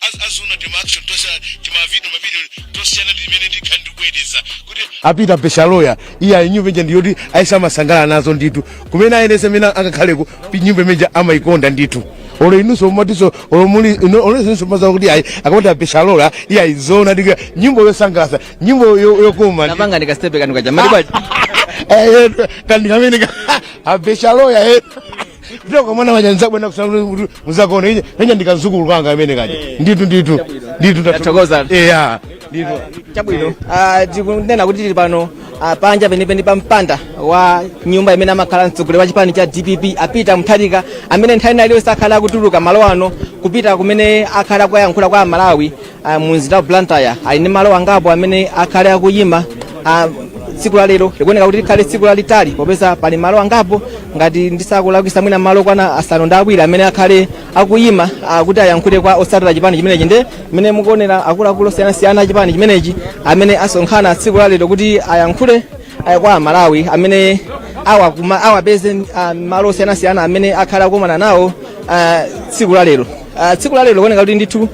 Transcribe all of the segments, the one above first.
Az- azinena tima action tonse tima video mabidi tosiyana ndimene ndikhala ndikubwereza kuti a Peter pensa loya iye ayi nyimbo ija ndiyoti aliyense amasangalala nazo ndithu kumene aliyense amene akakhaleko pi- nyimbo imene ija amayikonda ndithu olo inunso mumatiso olo muli ino- olo inunso mumadziwa kuti ayi akamati a pensa loya iye ayi zona ndi kanyimbo yosangalatsa nyimbo yo- yokoma ndi- mapanga ndi kastepe kanu kaja mali bwanji Eh, eh, kandi kameneka a pensa loya eh. Ndipo kwa mwana waja nzabwe na kusanga kuti muzakaona ije nenya ndi kadzukulu kanga amene kaja. Eh. Nditu nditu. Nditu Tathokoza. Eh ya. Nditu. chabwino Ah, tikunena kuti tili pano ah, panja penipeni pa mpanda wa nyumba imene amakhala mtsogoleri wa chipani cha dpp a peter mutharika amene nthawi ina iliyonse akhale akutuluka malo ano kupita kumene akhale akuyankhula kwa amalawi Ah, mu mzinda wa blantyre ali ndi malo angapo amene akhale akuyima ah, tsiku la lero likuoneka kuti likhale tsiku lalitali popeza pali malo angapo ngati ndisakulakwisa mwina malo okwana asanu ndi awiri amene akhale akuyima ah, kuti ayankhule kwa otsatira chipani chimenechi nde mmene mukuonera akuluakulu osiyanasiyana a chipani chimenechi amene asonkhana tsiku la lero kuti ayankhule ah, kwa amalawi amene awa kuma- awapeze ah, malo osiyanasiyana amene akhale akumana nawo ah, tsiku la lero Ah, tsiku la lero kuoneka kuti ndithu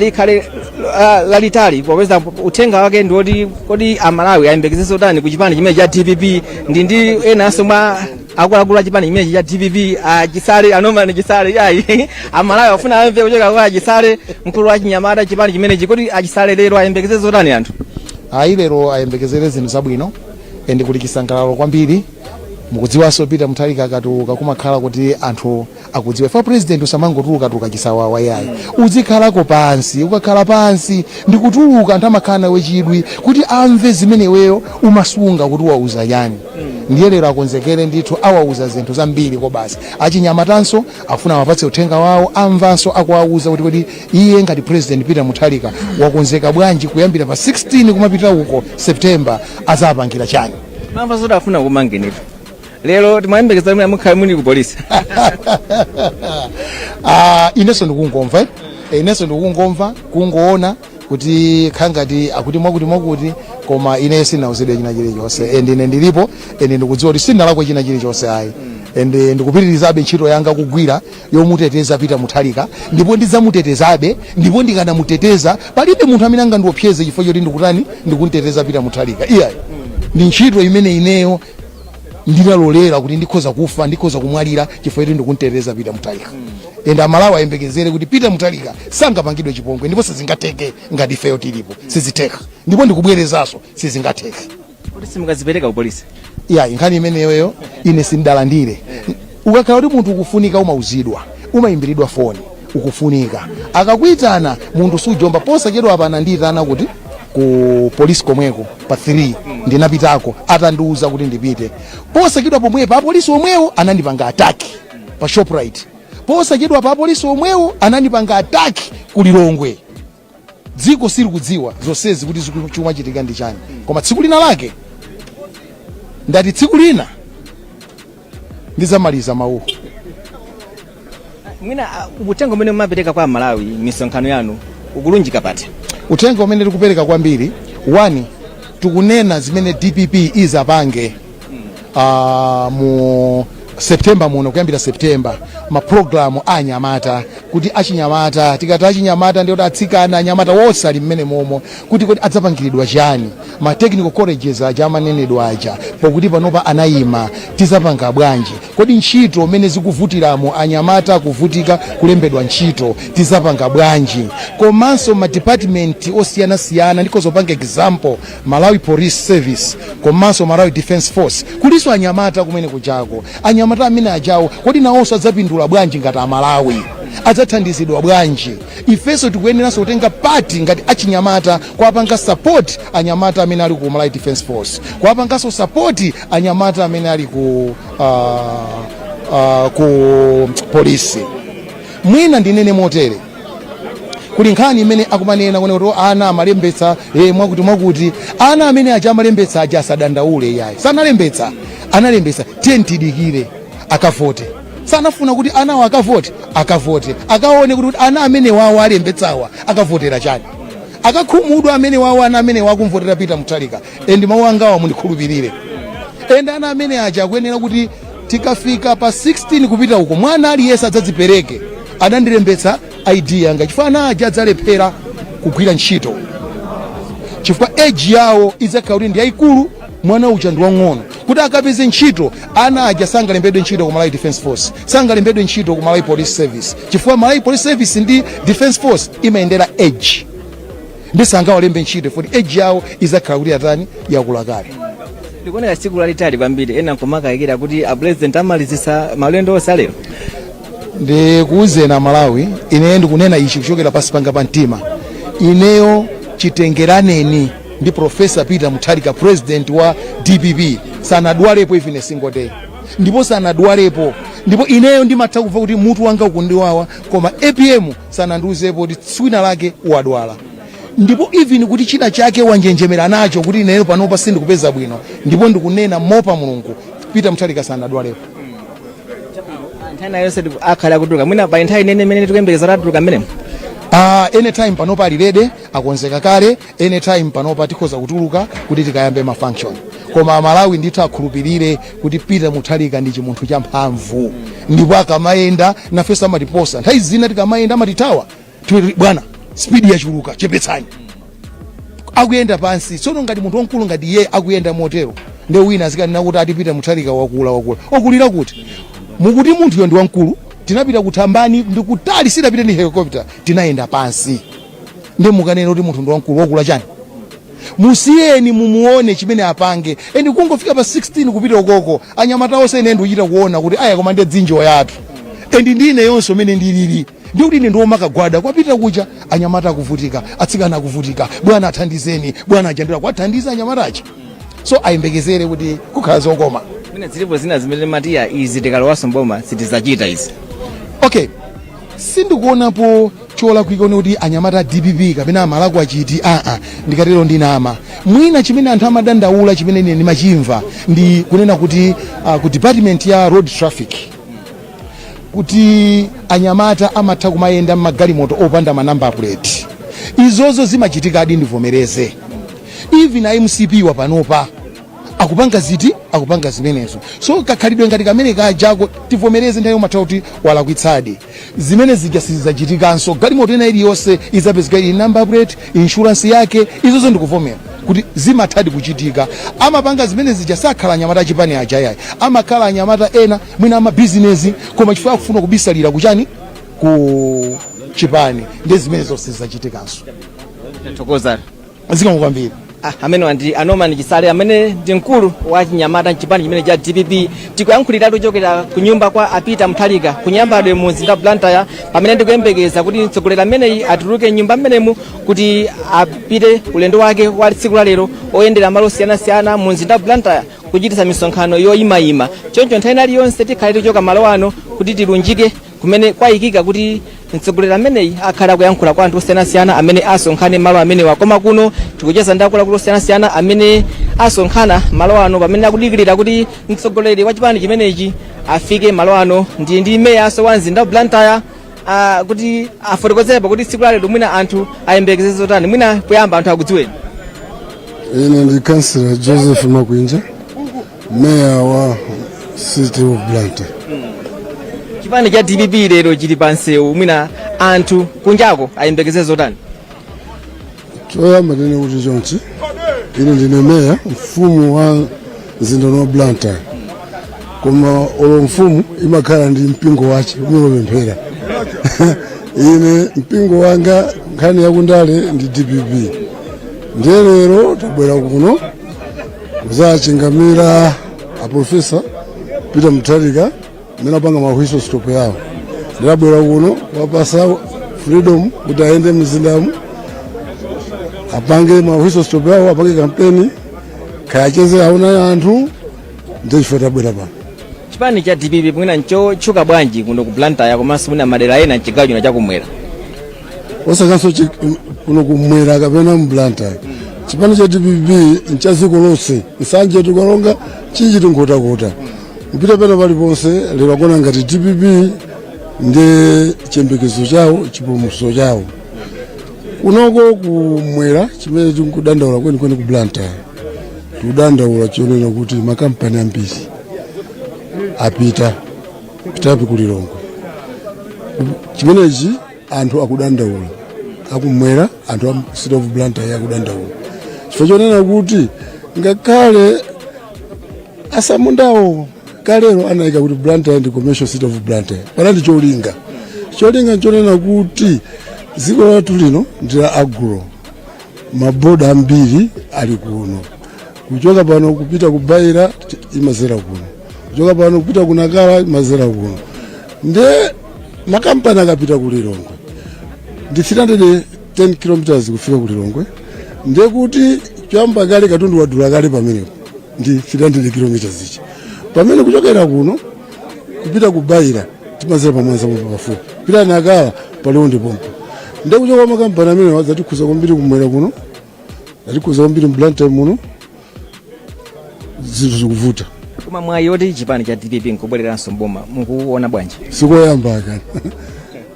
likhale la- lalitali popeza uthenga wake ndi woti kodi amalawi ayembekeze zotani ku chipani chimene cha dpp ndi ndi enanso mwa akuluakulu a chipani chimenechi cha dpp achisale a norman chisale ayi amalawi afuna amve kuchoka kwa achisale mkulu wa chinyamata chipani chimenechi kodi achisale lero ayembekeze zotani anthu ayi lero ayembekezere zinthu zabwino ende kuli chisangalalo kwambiri mukudziwanso peter mutharika akatuluka kumakhala kuti anthu akudziwa ife president usamangotulukatuluka chisawawa yayi uzikhalako pansi ukakhala pansi ndikutuluka anthu amakhala nawe chidwi kuti amve zimene iweyo umasunga kuti uwauza chiyani ndiye lero akonzekere ndithu awauza zinthu zambiri kobasi achinyamatanso afuna awapatse uthenga wawo amvanso akuwauza kuti kodi iye ngati president peter mutharika wakonzeka bwanji kuyambira pa 16 kumapita uko september azapangira chani mwamva zoti afuna kukumanganipo lero timayembekeza kuti mukhale muli ku polisi Ah, inenso ndikungomva eh? Eh, inenso ndikungomva kungoona kuti kaya ngati akuti mwakuti mwakuti koma ine sinauzidwe china chilichonse and ine ndilipo and ndikudziwa kuti sinalakwe china chilichonse ayi and eh, ndikupitirizabe ntchito yanga kugwira yomuteteza peter mutharika ndipo ndidzamutetezabe ndipo ndikanamuteteza palibe munthu amene angandiopseze chifukwa choti ndikutani ndikunteteza peter mutharika iyayi ndi ntchito imene ineyo ndinalolera kuti ndikhoza kufa ndikhoza kumwalira chifukwa choti ndikunteteza peter mutharika ende amalawi ayembekezere kuti peter mutharika sangapangidwe chipongwe ndipo sizingatheke ngati ifeyo tilipo sizitheka ndipo ndikubwerezanso sizingatheke kuti simukadzipereka ku polisi iyayi nkhani imeneyoyo ine sindalandire Ukakhala kuti munthu ukufunika umauzidwa. Umaimbilidwa foni ukufunika. Akakuitana munthu sujomba. Posachedwapa anandiitana kuti ku polisi komweko pa 3 ndinapitako atandiuza kuti ndipite. Posachedwa pomwepa apolisi omwewo anandipanga attack pa Shoprite. Posachedwapa apolisi omwewo anandipanga attack ku Lilongwe. dziko silikudziwa zonsezi kuti ziku- chikumachitika ndi chani koma tsiku lina lake ndati tsiku lina ndizamaliza mawuwo mwina ah, uthenga umene mumapereka kwa amalawi misonkhano yanu ukulunjika pati uthenga umene tikupereka kwambiri one tikunena zimene dpp izapange uh, mu september muno kuyambira september ma program a anyamata kuti achinyamata tikati achinyamata ndi kuti atsikana anyamata wonse ali mmenemomo kuti kodi adzapangiridwa chani ma technical colleges aja amanenedwa aja pokuti panopa anayima tizapanga bwanji kodi ntchito mmene zikuvutiramo anyamata kuvutika kulembedwa ntchito tizapanga bwanji komanso ma department osiyanasiyana ndikhoza kupanga example Malawi Police Service komanso Malawi Defence Force kulinso anyamata kumenekujako anyamata ameneajawo kodi nawonso adzapindula bwanji ngati amalawi adzathandizidwa bwanji ifenso tikuyeneranso kutenga part ngati achinyamata kuwapanga support anyamata amene ali ku Malawi Defence Force kuwapanganso support anyamata amene ali ku, uh, uh, ku polisi mwina ndinene motere kuli nkhani imene akumanena kunena kuti ana amalembetsa eh, mwakuti mwakuti ana amene aja amalembetsa aja asadandaule yayi sanalembetsa analembetsa tiyeni tidikire akavote samafuna kuti anawo akavote akavote akaone kuti ana amenewawo alembetsawa akavotera chani akakhumudwa amenewawo ana amenewa akamvotera peter mutharika and mawu angawa mundikhulupirire and ana amene aja akuyenera kuti tikafika pa 16 kupita uko mwana aliyense adzadzipereke adandilembetsa id yanga chifukwa ana aja adzalephera kugwira ntchito chifukwa age yawo idzakhala kuti ndi yayikulu mwana uja ndi wang'ono kuti akapeze ntchito ana aja sangalembedwe ntchito ku malawi defense force sangalembedwe ntchito ku malawi police service chifukwa malawi police service ndi defense force imayendera age nde sangawalembe ntchito poti age yawo izakhala kuti yatani yakula kale likuoneka tsiku lalitali kwambiri ena nkumakayikira kuti apresident amalizisa malendo onse alero ndikuwuzeni amalawi ineyo ndikunena ichi kuchokera pansi panga pa mtima ineyo chitengeranireni ndi profesa peter mutharika president wa dpp sanadwalepo even a single day ndipo sanadwalepo ndipo ineyo ndimatha kumva kuti mutu wanga ukundiwawa koma apm sanandiuzepo kuti tsiku lina lake wadwala ndipo even kuti china chake wanjenjemera nacho kuti ineyo panopa sindikupeza bwino ndipo ndikunena mopa mulungu peter muthalika sanadwalepo nthawi na yonse tiku- akhala akutuluka mwina pa nthawi inoyi imene tikuyembekeza kuti atuluka mmenemo uh, anytime panopa alirede akonzeka kale anytime panopa tikhoza kutuluka kuti tikayambe ma function koma amalawi ndithu akhulupirire kuti peter muthalika ndi chimunthu cha mphamvu ndipo akamayenda nafeso amatiposa nthawi zina tikamayenda amatithawa Tiwe- bwana spidi yachuluka chepetsani akuyenda pansi tsono ngati munthu wamkulu ngati iye akuyenda motero ndi wina azikanena kuti ati peter muthalika wakula wakula wakulira kuti mukuti munthuyo ndi wamkulu tinapita kuthambani ndi kutali sitapita ndi helicopter tinayenda pansi nde mukanena kuti munthu ndi wamkulu wakula chani musiyeni mumuone chimene apange and kungofika pa 16 kupita ukoko anyamata onse ine ndikuchita kuona kuti aya koma ndi dzinjoya izi and ndi ineyonso umene ndilili ndi kuti ine ndimakagwada kwa apita kuti a anyamata akuvutika atsikana akuvutika bwana athandizeni bwana ayamba kuwathandiza anyamata achi so ayembekezere kuti kukhala zokoma mwina zilipo zina zimene amati ayi izi tikalowaso mboma sitizachita izi okay sindikuonapo cholakwika konse kuti anyamata a dpp kapena amalakwa chiti aa ndikatero ndinama mwina chimene anthu amadandaula chimene ine ndimachimva ndi kunena kuti uh, ku department ya road traffic kuti anyamata amatha kumayenda mmagalimoto opanda manamba puleti izozo zimachitikadi ndivomereze even a mcp wa panopa akupanga ziti akupanga zimenezo so kakhalidwe ngati kamene kajako tivomereze nthawi yomatha kuti walakwitsadi zimene zija sizachitikanso galimoto ina iliyonse izapezeka ili number plate insurance yake izozo ndikuvomera kuti zimathadi kuchitika amapanga zimene zija sakhala anyamata achipani aja yayi amakhala anyamata ena mwina amabizinesi koma chifukwa akufuna kubisalira kuchani ku chipani ndi zimene zonse sizachitikanso Tathokoza. zikomo kwambiri Ah, amenewa ndi a norman chisale amene ndi mkulu wa chinyamata mchipani chimene cha dpp tikuyankhuliratu tikuchokera ku nyumba kwa a peter muthalika kunyambadwe mu mzinda wa blantyre pamene ndikuyembekeza kuti mtsogoleri ameneyi atuluke mnyumba mmenemu kuti apite ulendo wake wa tsiku la lero oyendera malo osiyanasiyana mu mzinda wa blantyre kuchititsa misonkhano yoyimayima choncho nthawi ina iliyonse tikhale tikuchoka malo ano kuti tilunjike kumene kwayikika kuti mtsogoleri ameneyi akhale akuyankhula kwa anthu osiyanasiyana amene asonkhane malo amenewa koma kuno tikucheza ndi akuluakulu osiyanasiyana amene asonkhana malo ano pamene akudikirira kuti mtsogoleri wa chipani chimenechi afike malo ano ndili ndi meyaso wa mzinda wa blantyre ah, kuti atifotokozerepo kuti tsiku lalero mwina anthu ayembekezere zotani mwina poyamba anthu akudziweni ine ndi kansila joseph makwinja meya wa city of blantyre chipani cha dpp lero chili pa msewu mwina anthu kunjako ayembekeze zotani choyamba ndine kuti chonchi, ine ndine meya mfumu wa mzinda wa blantyre koma olo mfumu imakhala ndi mpingo wake umene amapemphera ine mpingo wanga nkhani yakundale ndi dpp ndiye lero tabwera kuno Kudzachingamira aprofesa Peter Mutharika amene apanga mahwiso stop yawo ndiye tabwera kuno kuwapatsa freedom kuti ayende mzindamu apange mahwiso stop yawo apange kampeni kaya acheze awone anthu ndiye chifukwa tabwera pano chipani cha dpp mwina nchotchuka bwanji kuno ku blantyre komanso mwina madera ena mchigawo chino chakumwera osatinso chi- kuno kumwera kapena mblantyre chipani cha dpp ncha dziko lonse nsanje chitipa karonga mchinji nkhotakota kupita pena paliponse lero akuona ngati dpp ndi chiyembekezo chawo chipulumutso chawo kunoko kumwera chimene tikudandaula kwenikweni ku blantyre tikudandaula chonena kuti makampani ambiri apititsa apita ku lilongwe chimenechi anthu akudandaula akumwera anthu a city of blantyre akudandaula chifukwa chonena kuti ngakhale asamundawo kalero anayika kuti blantyre ndi commercial city of blantyre panali cholinga cholinga nchonena kuti dziko lathu lino ndi la agro maboda ambiri ali kuno kuchoka pano kupita ku beira imadzera kuno kuchoka pano kupita ku nacala imadzera kuno nde makampani akapita ku lilongwe ndi 310 km kufika ku lilongwe nde kuti choyamba kale katundu wadula kale pamenepo ndi 300 km ichi pamene kuchokera kuno kupita ku beira timadzera pa mwanza pompa pafupi kupita nacala pa liwonde pompa nde kuchoka kwa makampani amenewa zatikhudza kwambiri kumwera kuno zatikhudza kwambiri mblantyre muno zinthu zikuvuta koma mwayi woti chipani cha dpp nkubwereranso mboma mukuona bwanji sikoyamba aka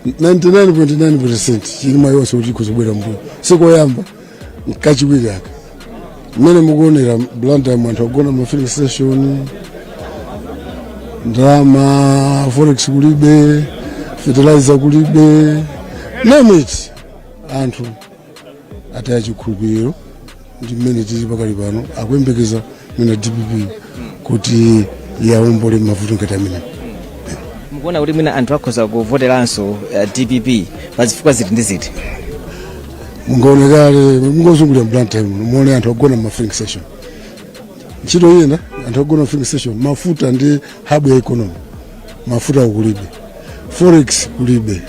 99.9% chili mwayi wonse kuti chidzabwera mboma sikoyamba nkachiwiri aka mmene mukuonera blantyre anthu akugona ma filling station ndalama forex kulibe fertilizer kulibe name it anthu ataya chikhulupiriro ndi mmene tili pakali pano akuyembekeza mwina dpp kuti yaombole mavuto ngati amene mukuona kuti mwina anthu akhoza kuvoteranso uh, dpp pa zifukwa ziti ndi ziti mungaonekale mungozungulira mBlantyre muno muone anthu agona ma filling station ntchito iyenda anthu agona ma filling station mafuta ndi hub ya economy mafuta kulibe forex kulibe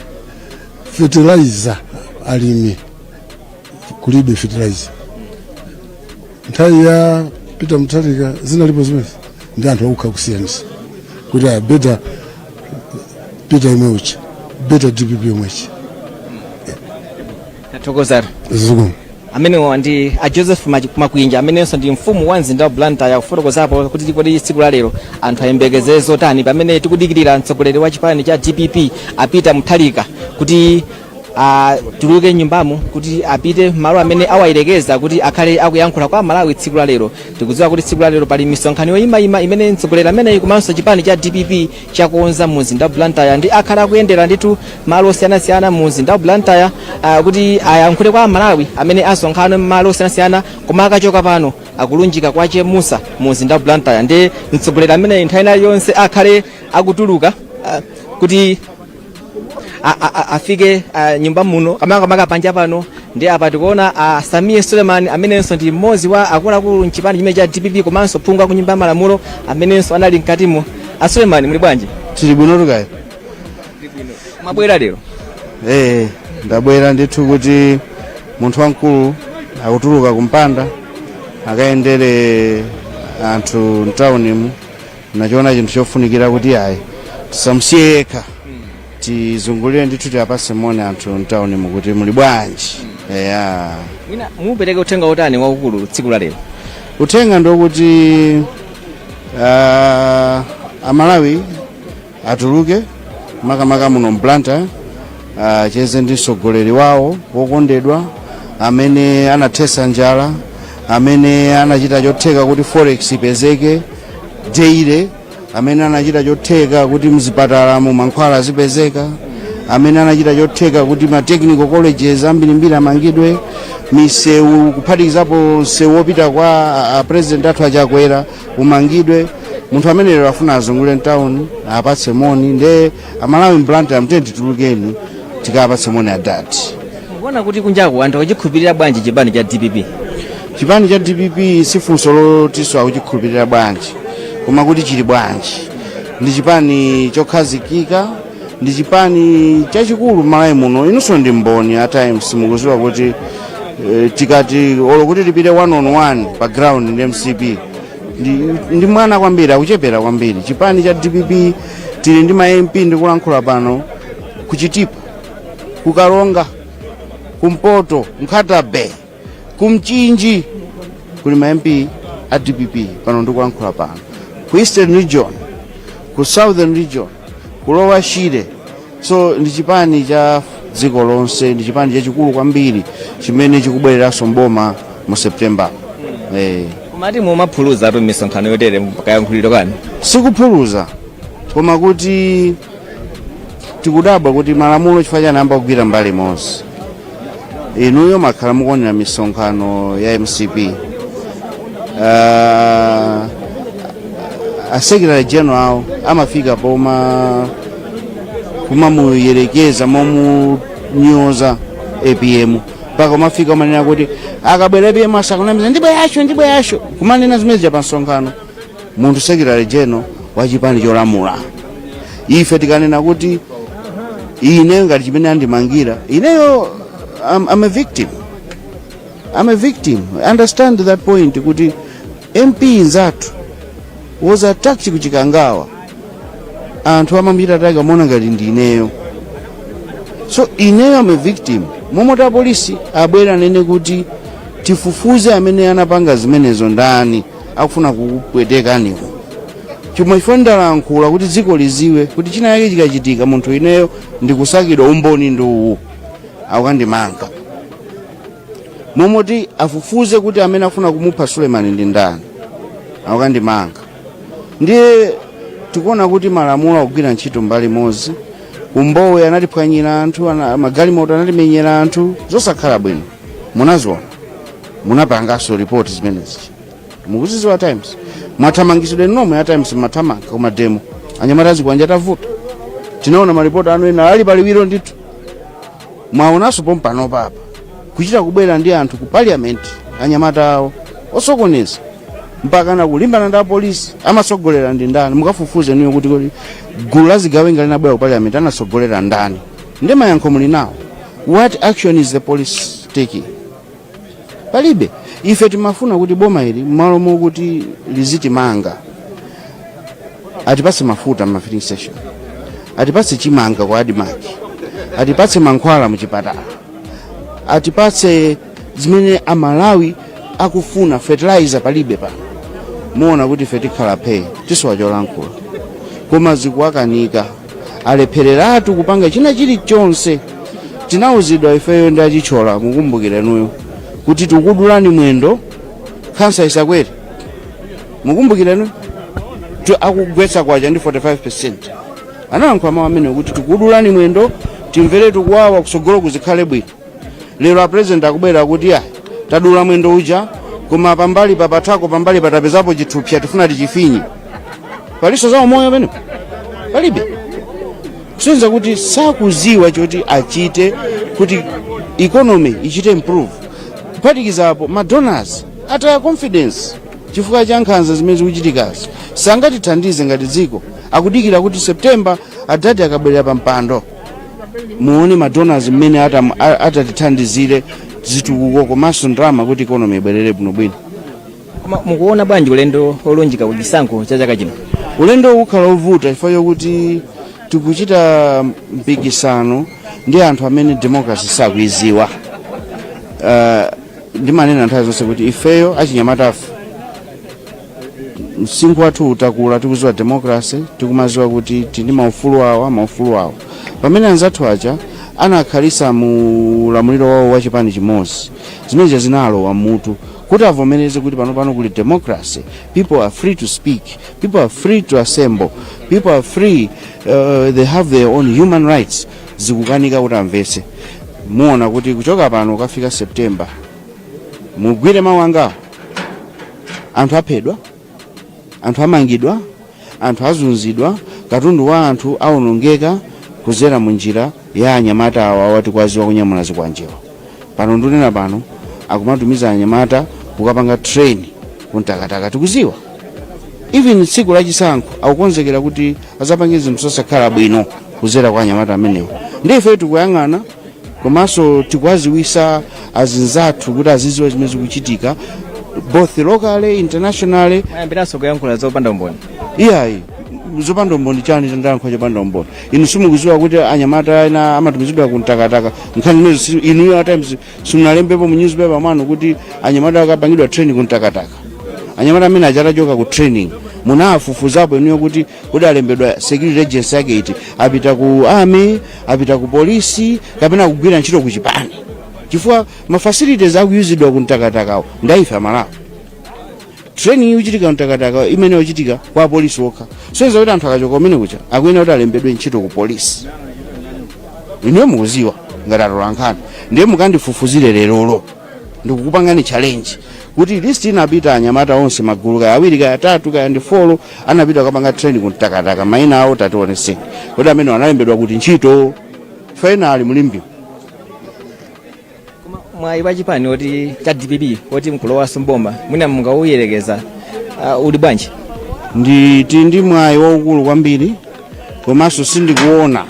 fertilizer alimi kulibe fertilizer nthawi ya peter mutharika zinalipo zimenezi nde anthu akutha kusiyanisa kuti aa better peter yemwe uja better dpp yomwe ija tathokozatu zikomo amenewa ndi a joseph Machi- makwinja amenenso ndi mfumu ya mzinda wa blantyre kufotokozapo kuti kodi tsiku la lero anthu ayembekezere zotani pamene tikudikirira mtsogoleri wa chipani cha dpp a peter mutharika kuti atuluke mnyumbamo kuti apite mmalo amene awayerekeza kuti akhale akuyankhula kwa amalawi tsiku la lero tikudziwa kuti tsiku la lero pali misonkhano yoyimayima imene mtsogoleri ameneyi komanso chipani cha dpp chakonza mu mzinda wa Blantyre nde akhale akuyendera ndithu malo osiyanasiyana mu mzinda wa Blantyre uh, kuti ayankhule kwa aMalawi amene asonkhana mmalo osiyanasiyana koma akachoka pano akulunjika kwa Chemusa mu mzinda wa Blantyre nde mtsogoleri ameneyi nthawi ina iliyonse akhale akutuluka uh, kuti a- a- a- afike a, nyumba muno makamaka panja pano nde apa tikuona a Sameer Suleman amenenso ndi mmodzi wa akuluakulu mchipani chimenechi cha DPP komanso phungu wa ku nyumba ya malamulo amenenso anali mkatimo a Suleman muli bwanji tili bwino takuonani mwabwera lero ee ndabwera ndithu kuti munthu wamkulu akutuluka kumpanda akayendere anthu mtawunimu ndachiona chinthu chofunikira kuti ayi tisamusiye yekha tizungulire ndithu tiwapase moni anthu mtaunimu kuti muli bwanji eya mwina mupereke uthenga wotani waukulu tsiku la lero uthenga ndi wokuti uh, amalawi atuluke makamaka muno mBlantyre acheze ndi mtsogoleri wawo wokondedwa amene anathesa njala amene anachita chotheka kuti forex ipezeke daily amene anachita chotheka kuti mzipatalamo mankhwala azipezeka amene anachita chotheka kuti ma technical colleges ambirimbiri amangidwe misewu kuphatikizapo msewu wopita kwa a- a president athu achakwera umangidwe munthu amene lero afuna azungulire mtawuni awapatse moni nde amalawi mblantyre muno tiyeni titulukeni tikawapatse moni adadi mukuona kuti kunjaku anthu akuchikhulupirira bwanji chipani cha dpp chipani cha dpp si funso lotiso akuchikhulupirira bwanji koma kuti chili bwanji ndi chipani chokhazikika ndi chipani chachikulu Malawi muno inunso ndi mboni a times mukuziwa kuti eh, tikati olo kuti tipite one on one pa ground ndi mcp ndi, ndi mwana kwambiri akuchepera kwambiri chipani cha dpp tili ndi ma mp ndikulankhula pano ku Chitipa ku karonga kumpoto nkhata bay ku Mchinji kuli ma mp a dpp pano ndikulankhula pano ku eastern region ku southern region ku lower shire so ndi chipani cha dziko lonse ndi chipani chachikulu kwambiri chimene chikubwereranso mboma mu september eh. komatu mumaphulitsatu misonkhano yotere kayankhulidwe kanu sikuphulitsa koma kuti tikudabwa kuti malamulo chifukwa chani ayamba kugwira mbali imodzi inuyo mwakhala mukuonera misonkhano ya mcp uh, asekretary general awo amafika pomamuyerekeza momunyoza apm mpaka kumafika kumanena kuti akabwera apm asakunamizeni ndibweracho ndibweracho kumanena zimene zija pa msonkhano munthu secretary general wa chipani cholamula ife tikanena kuti ine ngati chimene andimangira ineyo I'm, I'm a victim I'm a victim understand that point kuti mp nzathu was attacked ku Chikangawa anthu amamuchita attack amaona ngati ndi ineyo so ineyo I'm a victim mmalo moti apolisi abwere anene kuti tifufuze amene anapanga zimenezo ndani akufuna kukupwetekani Chomwe chifukwa ndalankhula kuti dziko liziwe kuti china yake chikachitika munthu ineyo ndikusakidwa umboni ndi uwu akukandimanga mmalo moti afufuze kuti amene amafuna kumupha sulemani ndi ndani akukandimanga ndiye tikuona kuti malamulo akugwira ntchito mbali imodzi ku Mbowe anatiphwanyira anthu ana- magalimoto anatimenyera anthu zosakhala bwino munaziona munapanganso report zimenezi mukuziziwa times mwathamangitsidwa inu nomwe a times mmathamanga ku ma demo anyamata azikwanja atavuta tinaona maripoti anu ena ali paliwiro ndithu mwaonanso pompano apa kuchita kubwera ndi anthu ku parliament anyamata awo osokoneza mpakana kulimbana ndi apolisi amatsogolera ndi ndani mukafufuze inuyo kuti kuti gulu la zigawenga linabwera ku parliament anatsogolera ndani ndi mayankho muli nawo what action is the police taking palibe ife timafuna kuti boma ili mmalo mokuti lizitimanga atipatse mafuta mma filling station atipatse chimanga kwa admarc atipatse mankhwala muchipatala atipatse zimene amalawi akufuna fertilizer palibe pano muona kuti ife tikhala phee tisowa cholankhula koma zikuwakanika alephereratu kupanga china chilichonse tinawuzidwa ifeyo ndi achitchola mukumbukirenuyo kuti tikudulani mwendo khansa isakwere mukumbukirenuyo akugwetsa kwacha ndi 45 percent analankhula mawu amenewo kuti tikudulani mwendo timvere tikuwawa kusogolo kuzikhale bwino lero apresident akubwera kuti ayi tadula mwendo uja koma pambali papathako pambali patapezapo chithupsa tifuna tichifinye palinso za umoyo pamenepo palibe kusonyeza kuti sakuziwa choti achite kuti economy ichite improve kuphatikizapo madonors ataya confidence chifukwa cha nkhanza zimene zikuchitikazi sangatithandize ngati dziko akudikira kuti september adadi akabwerera pa mpando muone madonors mmene atatithandizire zitukuko komanso ndalama kuti ikonomi ibwerere bwinobwino koma mukuona bwanji ulendo olunjika ku chisankho cha chaka chino ulendo uwu ukhala ovuta chifukwa chokuti tikuchita mpikisano ndi anthu amene democracy sakuiziwa ndimanena nthawi zonse kuti ifeyo achinyamatafe msinkhu wathu utakula tikuziwa demokrasi tikumaziwa kuti tili ndi maufulu awa maufulu awa pamene anzathu aja anakhalisa mu ulamuliro wawo wa chipani chimodzi zimene zinalowa mutu kuti avomereze kuti pano pano kuli democracy people are free to speak people are free to assemble people are free they have their own human rights zikukanika kuti amvetse muona kuti kuchoka pano kafika september mugwire mawu angawo anthu aphedwa anthu amangidwa anthu azunzidwa katundu wa anthu awonongeka kuzera mu njira ya anyamata awawa tikuwaziwa kunyamula zikwanjewa pano ndunena pano akumatumiza anyamata kukapanga train kuntakataka tikuziwa even tsiku lachisankho akukonzekera kuti azapange zinthu zosakhala bwino kuzera kwa anyamata amenewo ndiye ife tikuyang'ana komanso tikuwaziwisa azinzathu kuti aziziwa zimene zikuchitika both locally internationally ayambiranso kuyankhula zopanda umboni iyayi zopanda umboni chani chandiyankhula chopanda umboni inu simukuziwa kuti anyamata ena amatumizidwa kuntakataka nkhani imeneyo inuyo atimes simunalembepo mu newspaper mwanu kuti anyamata akapangidwa training kuntakataka anyamata amene aja atachoka ku training munafufuzapo inuyo kuti kuti alembedwa security agency yake iti apita ku army apita ku polisi kapena kugwira ntchito ku chipani chifukwa ma facilities akuyuzidwa ku mtakatakawo ndaife amalawi training ikuchitika ku mtakataka imene yochitika kwa apolisi okha soyeza kuti anthu akachoka kumene kuja akuyenera kuti alembedwe ntchito ku polisi inuyo mukuziwa ngati atolankhani ndiye mukandifufuzire lerolo ndikukupangani challenge kuti list inapita anyamata onse magulu kaya awiri kaya atatu kaya ndi folo anapita kukapanga training kumtakataka maina awo tationetseni kuti amene analembedwa kuti ntchito finally mulimbi mwayi wa chipani oti cha dpp oti nkulowanso mboma mwina mungauyerekeze uh, uli bwanji nditi ndi mwayi waukulu kwambiri komanso sindikuona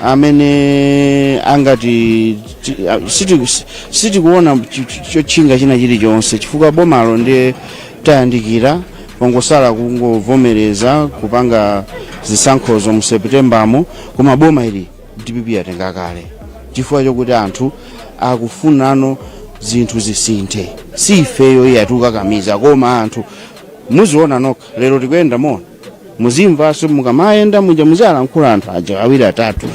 amene angati ti- a- siti- si- sitikuona chi- chi- chotchinga china chilichonse chifukwa bomalo ndiye tayandikira pangosala kungovomereza kupanga zisankhozo mu seputembamo koma boma ili dpp yatenga kale chifukwa chokuti anthu akufunano zinthu zisinthe si ifeyo iyayi tikukakamiza koma anthu muziona nokha lero tikuyenda mona muzimvanso mukamayenda muja muzialankhula anthu aja awiri atatu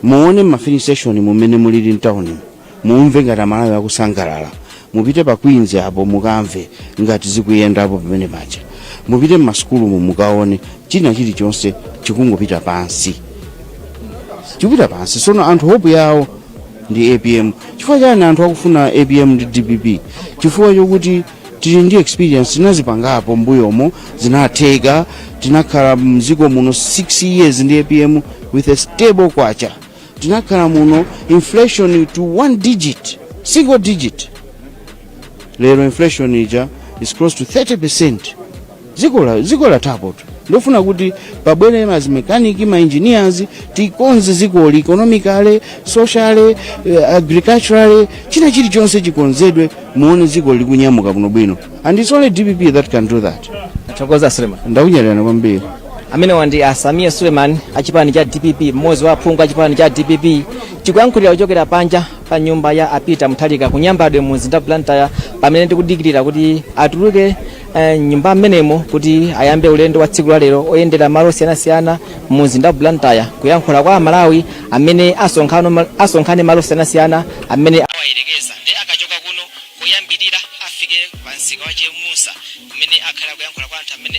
muone mafilling station mumene mulili mtauni mumve ngati amalawi akusangalala mupite pa queens apo mukamve ngati zikuyendapo pamene paja mupite mmasukulumu mukaone china chilichonse chikungopita pansi chikupita pansi sono anthu hope yawo ndi apm chifukwa chani anthu akufuna apm ndi dpp chifukwa chokuti tili ndi experience tinazipangapo mbuyomo zinatheka tinakhala mziko muno 6 years ndi apm with a stable kwacha tinakhala muno inflation to one digit single digit lero inflation ija is close to 30 percent dziko la- dziko lathapotu ndofuna kuti pabwere ma mechanic ma engineers tikonze dzikoli economically socially eh, agriculturally china chilichonse chikonzedwe muone dziko likunyamuka bwino bwino and it's only dpp that can do that tathokoza a suleman ndakunyadirani kwambiri amenewa ndi a sameer suleman achipani cha dpp mmodzi wa aphungu achipani cha dpp tikuyankhulira kuchokera panja pa nyumba ya a peter mutharika ku nyambadwe mu mzinda wa blantyre pamene tikudikirira kuti atuluke eh, mnyumba mmenemo kuti ayambe ulendo wa tsiku la lero oyendera malo osiyanasiyana mu mzinda wa blantyre kuyankhula kwa amalawi amene asonkhano ma- asonkhane malo osiyanasiyana amene awayerekeza ndiye akachoka kuno koyambirira afike pa msika wa chemusa kumene akhale akuyankhula kwa anthu amene